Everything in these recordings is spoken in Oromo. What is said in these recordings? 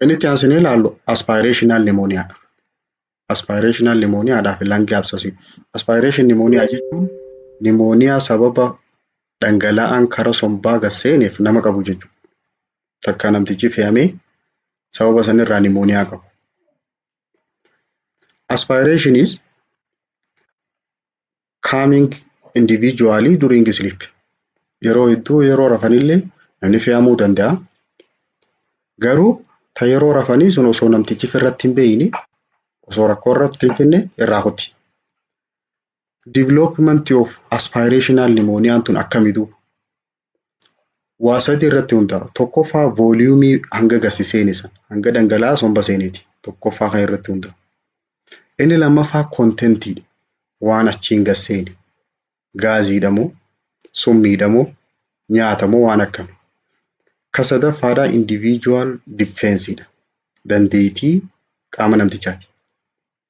Inni itti aansinee ilaallu aspaayireeshinaal nimooniyaadha. Aspaayireeshinaal nimooniyaadhaa fi langi absasii. Aspaayireeshin nimooniyaa jechuun nimooniyaa sababa dhangala'aan kara sombaa gad seeneef nama qabu jechuudha. Takka namtichi fe'amee sababa sanirraa nimooniyaa qabu. Aspaayireeshiniis coming individually during sleep. Yeroo hedduu yeroo rafanillee namni fe'amuu danda'a. Garuu ta yeroo rafanii sun osoo namtichi irratti hin beeyne osoo rakkoo irratti hin finne irraa kuti. Development of aspirational pneumonia tun akkami duuba? waa sadi irratti hundaa'a. Tokkoffaa vooliyuumii hanga gasi seene san hanga dhangala'aa somba seeneeti. Tokkoffaa kan irratti hundaa'a. Inni lammaffaa kontentiidha. Waan achiin gad seene gaaziidha moo summiidha moo nyaata moo waan akkami. Ka sadaffaadhaa individual defensiidha. Dandeetii qaama namtichaati.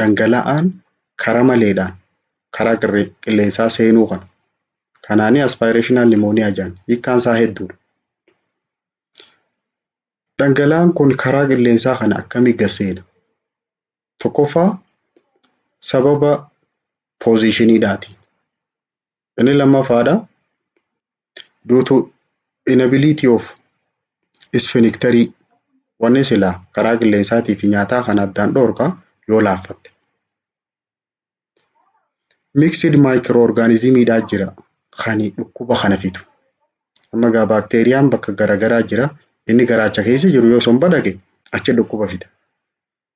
dhangala'aan kara maleedhaan karaa qilleensaa seenuu kana kanaanii aspirational pneumonia jedhan hiikkaan isaa hedduudha. Dhangala'aan kun karaa qilleensaa kana akkamii gad seena? Tokkoffaa sababa poozishiniidhaatiin Inni lammaffaadha. Due to inability of sphincterii wanni silaa karaa qilleensaatii fi nyaataa kan addaan dhoorka yoo laaffatte. Mixed microorganismiidhaa jira kan dhukkuba kana fidu. Amma egaa baakteeriyaan bakka garaagaraa jira. Inni garaacha keessa jiru yoo somba dhaqe achi dhukkuba fida.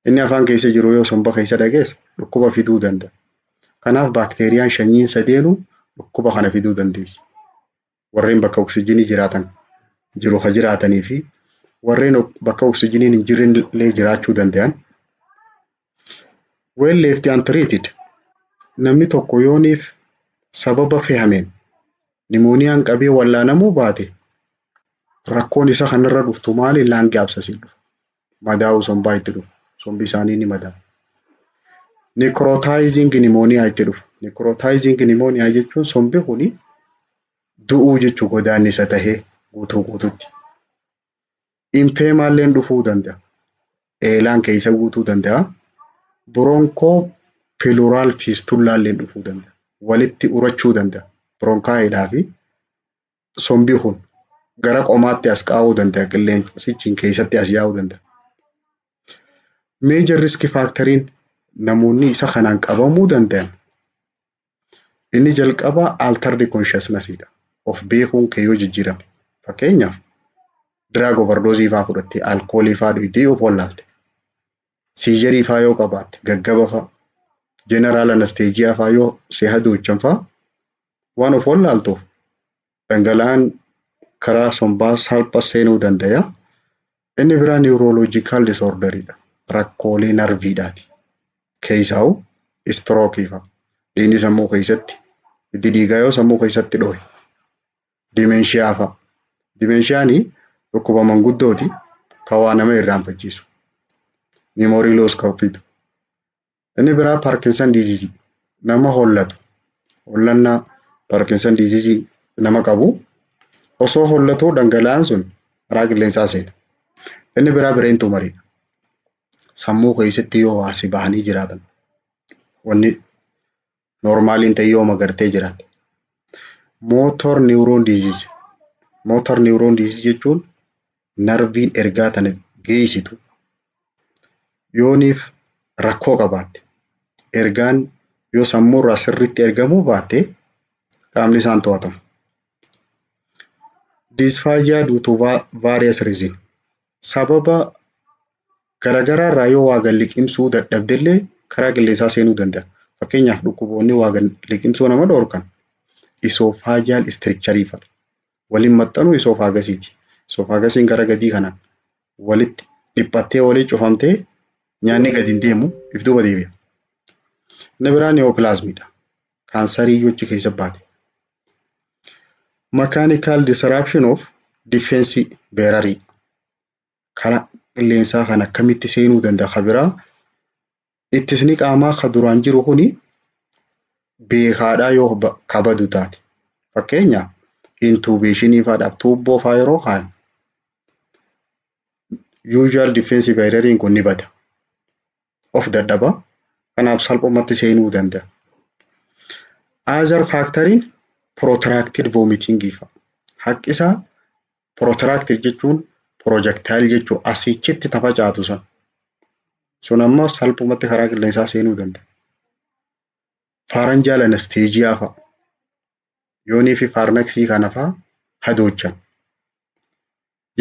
Inni afaan keessa jiru yoo somba keessa dhageesse dhukkuba fiduu danda'a. Kanaaf baakteeriyaan shanyiin sadeenuu dhukkuba kana fiduu dandeessi. Warreen bakka oksijinii jiraatan jiru ka jiraatanii fi warreen bakka oksijiniin hin jirre illee jiraachuu danda'an. Well left untreated namni tokko yooniif sababa fehameen nimooniyaan qabee wallaanamuu baate rakkoon isa kanarra dhuftu maali laangi absasiin dhufa. madaa'uu sombaa itti dhufa. Sombi isaanii ni madaa'a. Necrotizing pneumonia itti dhufa. Necrotizing pneumonia jechuun sombi kuni du'uu jechuu godaannisa tahee guutuu guututti. Impeemaalleen dhufuu danda'a. Eelaan keessa guutuu danda'a. Bronkoo piluraal fiistullaalleen dhufuu danda'a. Walitti urachuu danda'a. Bronkaa eelaa fi sombi kun gara qomaatti as qaa'uu danda'a qilleensichi keessatti as yaa'uu danda'a. Meejar riski faakteriin namoonni isa kanaan qabamuu danda'an inni jalqabaa altardi konshaasnasiidha. Of beekuun kee yoo jijjiirame fakkeenyaaf diraag ovardoozii fa'aa fudhattee alkoolii fa'aa dhugdee yoo wallaalte siijarii faa yoo qabaatte gaggaba faa jeneraal anasteejiyaa faa yoo si hadoochan faa waan of wallaaltuuf dhangala'aan karaa sombaa salpha seenuu dandaya. Inni biraa niwurooloojikaal disoordariidha. Rakkoolee narviidhaati. Keessaa'u istirookiifa. Dhiigni sammuu keessatti itti dhiigaa yoo sammuu keessatti dhohe. Dimenshiyaa fa'a. Dimenshiyaani dhukkuba manguddooti ka waa nama irraanfachiisu. Memory loss ka fidu. Inni biraa Parkinson disease nama hollatu. Hollannaa Parkinson disease nama qabu osoo hollatuu dhangala'aan sun karaa qilleensaa seena. Inni biraa bireen tumariidha. Sammuu keessatti yoo waa si bahanii jiraatan wanni Normal hin ta'e yooma gartee jiran. Motor neuron disease. Motor neuron disease jechuun narviin ergaa tana geessitu yooniif rakkoo qabaatte ergaan yoo sammuu irraa sirriitti ergamuu baatte qaamni isaan to'atamu. Dysphagia due to va- various reason. Sababa garagaraarraa yoo waa gad liqimsuu dadhabdellee karaa qilleensaa seenuu danda'a. Fakkeenyaaf dhukkuboonni waa gad liqimsuu nama dhorkan isoofaajiyal istirikcharii fa'i. Waliin maxxanuu isoofaagasiiti. Isoofaagasiin gara gadii kanaan walitti dhiphattee walii cufamtee nyaanni gad hin deemu if duuba deebi'a. Inni biraan ni'oopilaazmiidha. kaansarii iyyuu achi keessa baate. Mechanical disruption of defense bearer kana qilleensaa kan akkamitti seenuu danda'a ka biraa ittisni qaamaa ka duraan jiru kuni beekaadhaa yoo ba- ka badu taate. Fakkeenyaaf intubeeshinii faadhaaf tuubboo faa yeroo kaan usual defense beareriin kun ni bada. of dadhaba. Kanaaf salphumatti seenuu danda'a. Other factoriin protracted vomiting fa'a. Haqqisaa protracted jechuun projectile jechuu asiichitti tafacaatu sun. Sun ammoo salphumatti karaa qilleensaa seenuu danda'a. Pharyngeal anesthesia fa'a. yoonii fi paarmeksii kana faa hadoochan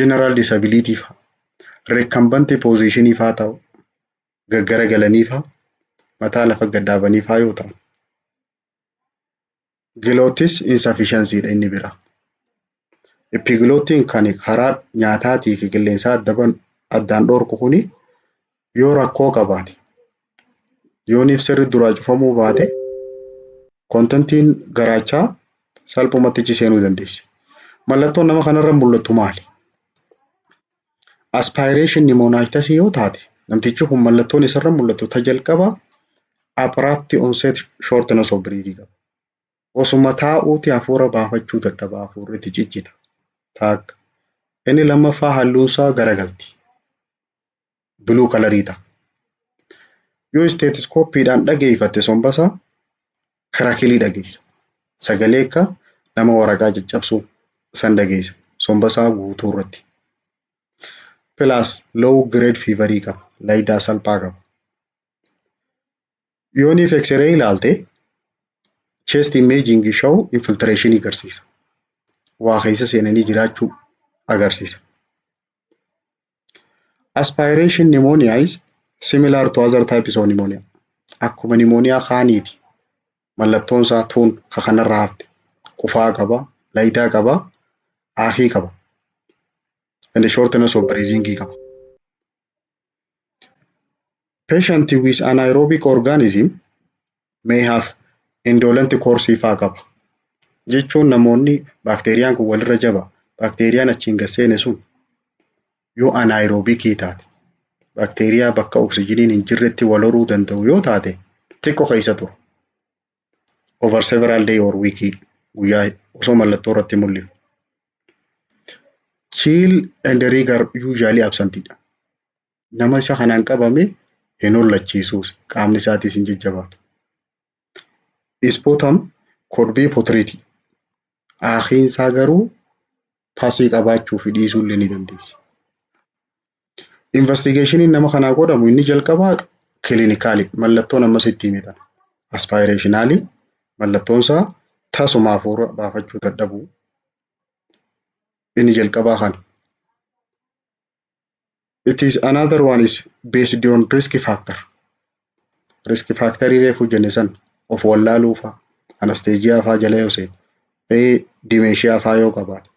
general disability faa recumbent position faa ta'u gaggara galanii faa mataa lafa gad dhaabanii faa yoo ta'an glottis insufficiency dha inni biraa Epigloottiin kan karaa nyaataatii fi qilleensaa adda ban- addaan dhoorku kuni yoo rakkoo qabaate yooniif sirri duraa cufamuu baate kontentiin garaachaa salphumatti achi seenuu dandeessi. Mallattoon nama kanarra mul'attu maali? Aspiration pneumonitis yoo taate namtichi kun mallattoon isarra mul'attu ta jalqaba abrupt onset shortness of breath qaba. Osuma taa'uuti hafuura baafachuu dadhaba hafuurri itti ciccita. Taakka. Inni lammaffaa halluunsaa garagalti. Biluu kalarii ta'a. Yoo isteetiskooppiidhaan dhageeffatte sombasaa kirakilii dhageessa. Sagalee akka nama waraqaa caccabsuu san dhageessa. Sombasaa guutuu irratti. Pilaas low grade fiivarii qaba. Layidaa salphaa qaba. Yooniif X-ray ilaalte chest imaging show infiltration agarsiisa. Waa keessa seenanii jiraachuu agarsiisa. Aspiration pneumonia is similar to other types of pneumonia. Akkuma pneumonia kaaniiti. Mallattoon isaa tuun ka kanarraa hafte. Qufaa qaba, layidaa qaba, aakii qaba. And shortness of breathing qaba. Patient with anaerobic organism may have indolent course faa qaba. Jechuun namoonni baakteeriyaan kun walirra jaba. Baakteeriyaan achiin gad seene sun yoo anaerobic taate baakteeriyaa bakka oksijiniin hin jirretti wal horuu danda'u yoo taate xiqqo keessa tura. over several day or week guyyaa osoo mallattoo irratti mul'isu. Chill and rigor usually absent dha. Nama isa kanaan qabame hin hollachiisuus qaamni isaatiis hin jajjabaatu. Ispotam could be potreetii. Aakiin isaa garuu pasii qabaachuu fi dhiisuu illee ni dandeessi. Investigeeshiniin nama kanaa godhamu inni jalqabaa kilinikaalii mallattoon ammas itti hime tana. Aspaayireeshinaalii mallattoon isaa tasuma hafuura baafachuu dadhabuu inni jalqabaa kana. It is another one is based on risk factor. Risk factorii reefuu jenne san of wallaaluu faa anasteejiyaa faa jala yoo seene ee dimeeshiyaa faa yoo qabaate.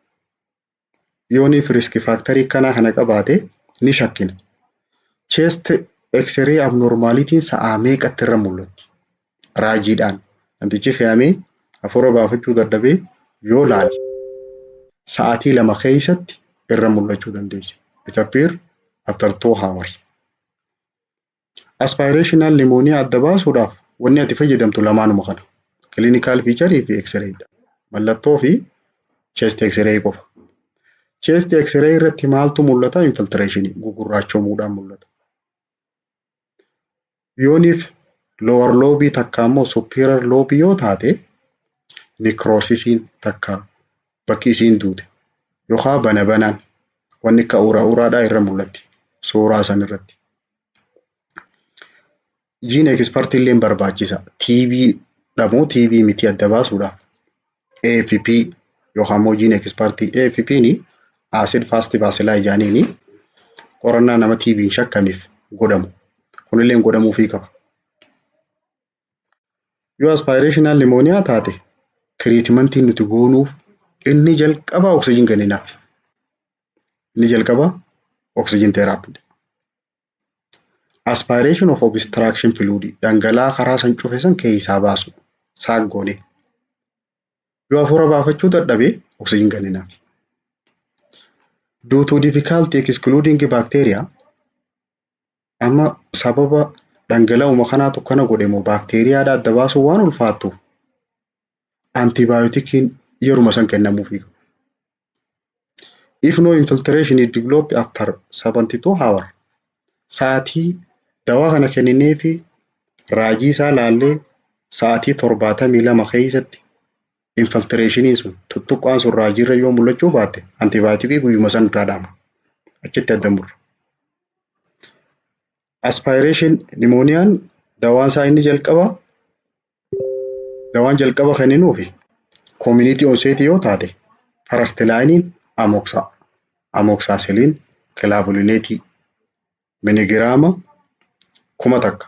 yooniif risk faaktarii kanaa kana qabaate ni shakkina. Chest X-ray abnormaalitiin sa'aa meeqatti irra mul'atti? Raajiidhaan namtichi fe'amee hafuura baafachuu dadhabee yoo laale sa'aatii lama keessatti irra mul'achuu dandeessi. It appear after two hours. Aspirational pneumonia adda baasuudhaaf wanni ati fayyadamtu lamaanuma kana. Clinical feature fi x-ray dha. Mallattoo fi chest x-ray qofa. Chest x-ray irratti maaltu mul'ata? Infiltration gugurraachomuudhaan mul'ata. Yooniif lower lobe takka ammoo superior lobe yoo taate necrosisiin takka bakki isiin duute yokaa bana banaan wanni akka uraa uraadhaa irra mul'atti suuraa san irratti. Jiin ekspartii illee barbaachisa. TB dhamoo TB miti adda baasuudha. AFP yookaan immoo jiin ekspartii AFP ni acid fast bacilli ijaaniini qorannaa nama TB hin shakkaniif godhamu. Kunillee godhamuufii qaba. Yoo aspirational pneumonia taate tiriitimantiin nuti goonuuf inni jalqabaa oksijiin kenninaaf. Inni jalqabaa oksijiin teeraappiidha. Aspiration of obstruction fluid dhangala'aa karaa san cufe san keessaa baasu saak goone. Yoo hafuura baafachuu dadhabe oksijiin kenninaaf. Due to difficulty excluding bacteria Amma sababa dhangala'uma kanaatu kana godhe moo baakteeriyaadha adda baasuun waan ulfaattuuf antibaayootikiin yeruma san kennamuufii qaba. If no infiltration is developed after 72 hour sa'aatii dawaa kana kenninee fi raajii isaa laallee sa'aatii torbaatamii lama keessatti infiltireeshiniin sun tuttuqqaan sun raajiirra yoo mul'achuu baatte antibaayootikii guyyuma san irraa dhaama. Achitti adda murra. Aspaayireeshin nimooniyaan dawaan isaa inni jalqaba dawaan jalqaba kenninuufi koomuniitii onseetii yoo taate farastilaayiniin amoksaa amoksaasilin kilaabulineetii minigiraama kuma takka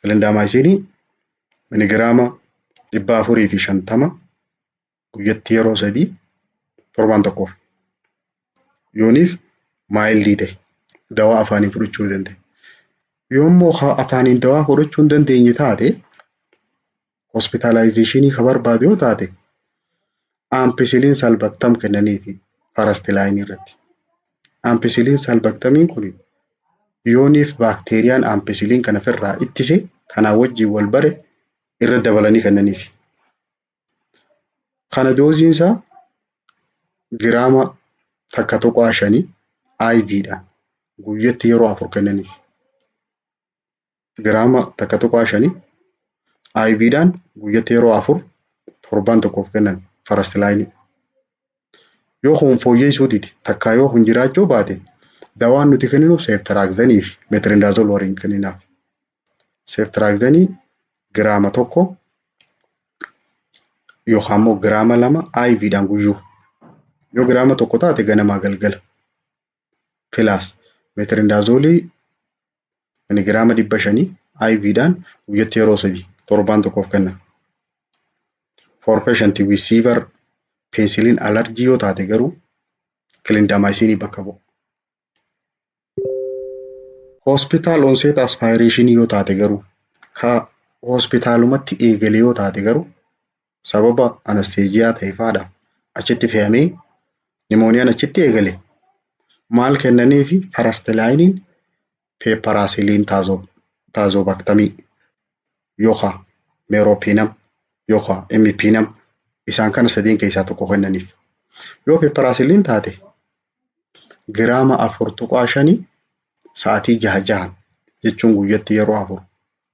Kilindaamaayisiinii miligiraama dhibba afurii fi shantama guyyatti yeroo sadii torbaan tokkoof yooniif maayildii ta'e dawaa afaaniin fudhachuu ni dandeenya. Yoommoo afaaniin dawaa fudhachuu hin dandeenye taate hospitaalaayizeeshinii kan barbaadu yoo taate ampicillin salbaktam kennaniifi farastilaayinii irratti. Ampicillin salbaktamiin kun yooniif baakteeriyaan ampicillin kana ofirraa ittise kanaa wajjin wal bare irra dabalanii kennaniifi. Kana dooziin isaa giraama takka tuqaa shanii IVdhaan guyyatti yeroo afur kennaniif. giraama takka tuqaa shanii IV dhaan guyyatti yeroo afur torbaan tokkoof kennan first line. Yoo kun fooyyeessuu dide takkaa yoo kun jiraachuu baate dawaan nuti kenninu seeftiraakzanii fi meetirindaazol waliin kenninaaf. Seeftiraakzanii giraama tokko yookaan immoo giraama lama IV dhaan guyyuu. Yoo giraama tokko taate ganamaa galgala. pilaas meetirindaazolii miligiraama dhibba shanii IV dhaan guyyatti yeroo sadi torbaan tokkoof kenna. For patient with severe penicillin allergy yoo taate garuu kilindamaayisiinii bakka bu'a. Hospital onset aspiration yoo taate garuu ka hospitaalumatti eegale yoo taate garuu sababa anasteejiyaa ta'eef haadha achitti fe'amee nimooniyaan achitti eegale maal kennanii fi farastilaayiniin peeparaasiliin taazoobaktamii yookaan meeroopiinam yookaan emmipiinam isaan kana sadeen keessaa tokko kennaniif. Yoo peeparaasiliin taate giraama afur tuqaa shanii sa'aatii jaha jahan jechuun guyyatti yeroo afur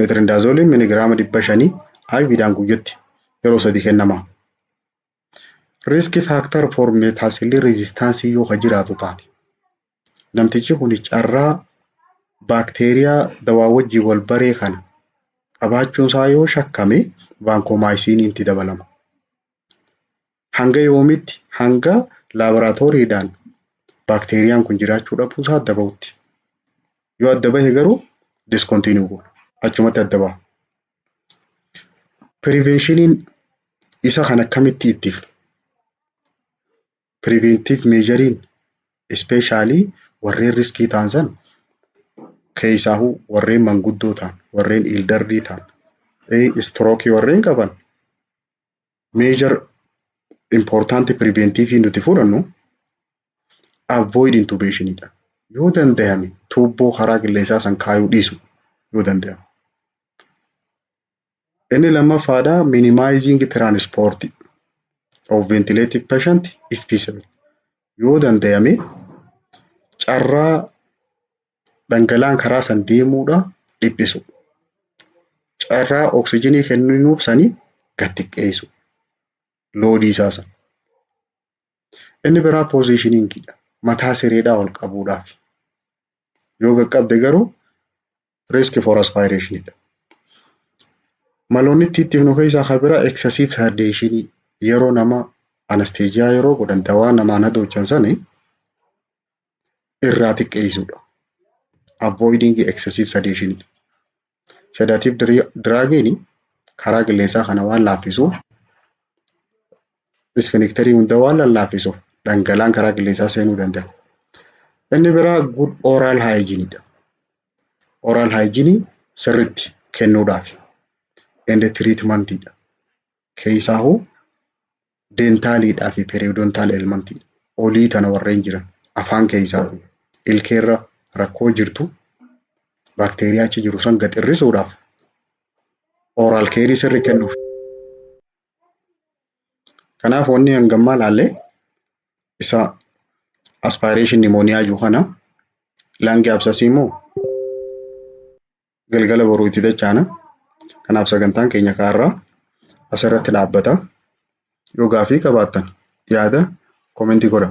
Meetirindaazoliin miligiraama dhibba shanii IVdhaan guyyatti yeroo sadi kennama. Riiski faaktar for meetaasilii reezistaansii yoo ka jiraatu taate namtichi kun carraa baakteeriyaa dawaa wajjin wal baree kana qabaachuun isaa yoo shakkame vaankomaayisiinii itti dabalama. Hanga yoomiitti? Hanga laaboraatooriidhaan baakteeriyaan kun jiraachuu dhabuu isaa adda bahutti. Yoo adda bahe garuu diskontiinuu goona. Achumatti adda baha. Piriveeshiniin isa kan akkamitti ittifna? Piriveentiiv meejariin ispeeshaalii warreen riskii ta'an san keessaahuu warreen manguddoo ta'an, warreen iildarrii ta'an, istirookii warreen qaban measure important preventive nuti fudhannu avoid intubation dha. Yoo danda'ame tuubboo karaa qilleensaa san kaayuu dhiisu yoo danda'ame. Inni lammaffaadha minimizing transport of ventilative patient if feasible. Yoo danda'ame carraa dhangala'aan karaa san deemuudha dhiphisu. Carraa oksijinii kenninuuf sanii gad xiqqeessu. Loodii isaa san. Inni biraa poozishiniingiidha. Mataa sireedhaa ol qabuudhaaf. Yoo qaqqabde garuu riiski for aspaayireeshiniidha. Maloonni itti itti himnu keessaa kan biraa eksesiif sardeeshinii yeroo nama anasteejiyaa yeroo godhan dawaa namaan hadoochan sani irraa xiqqeessuudha. Avoiding excessive sedation. Sedative draagiin karaa qilleensaa kana waan laaffisuuf isfinikterii hunda waan lallaaffisuuf dhangalaan karaa qilleensaa seenuu danda'a. Inni biraa good oral hygiene dha. Oral hygiene sirriitti kennuudhaaf. Ende treatment dha. Keessaahuu deentaaliidhaa fi periodontal elementii olii tana warreen jiran afaan keessaa fi ilkeerra rakkoo jirtu baakteeriyaa achi jiru san gad hir'isuudhaaf oral keerii sirri kennuuf. Kanaaf wanni hangammaa laalle isa aspiration pneumonia jiru kana langi absasii moo galgala boruu itti dachaana. Kanaaf sagantaan keenya kaarraa asirratti dhaabbata. Yoo gaafii qabaattan yaada komentii godha.